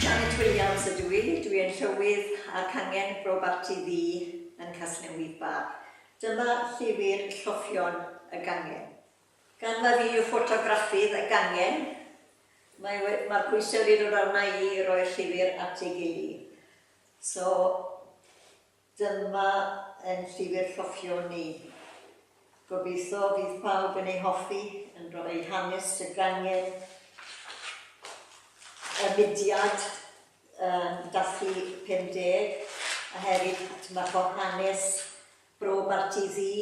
Janet Williams ydw i, dwi yn Llywydd a'r cangen Bro Barti Ddu yn Casnewydd Bach. Dyma llyfr Lloffion y Gangen. Gan mai fi yw ffotograffydd y gangen, mae we- mae'r pwysau wedi dod arna i i roi'r llyfr at ei gily. So, Dyma ein llyfr cofion ni. Gobeithio fydd pawb yn ei hoffi, yn rhoi hanes y gangen, y mudiad um, Dathlu 50, a hefyd dyma ffordd hanes Bro Barti Ddu,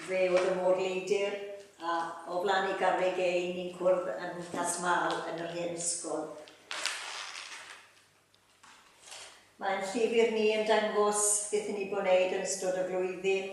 fe oedd y môr leidr, a o flaen ei garreg ei ni'n cwrdd yn Casmal yn yr hen ysgol. Mae'n llyfr ni yn dangos beth i ni bod wneud yn ystod y flwyddyn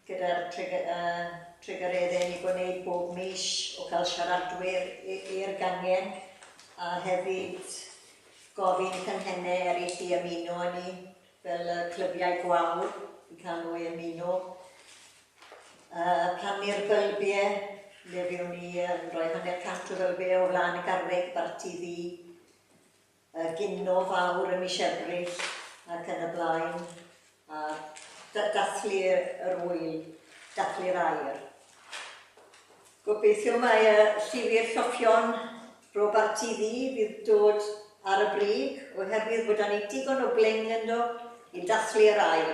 gyda'r trugareddau ni bod wneud bob mis o gael siaradwyr i'r gangen a hefyd gofyn i canghennau eraill i ymuno â ni fel y clybiau gwawr i cael nhw i ymuno a plannu'r bylbiau lle fyddwn ni yn rhoi hanner cant o fylbiau o flaen y garreg barti ddu y gino fawr ym mis Ebrill ac yn y blaen, a dathlu yr ŵyl, dathlu'r aer. Gobeithio mae y llyfr Lloffion Robarti Ddu fydd dod ar y brig, oherwydd bod 'da ni digon o bling ynddo i dathlu yr aer.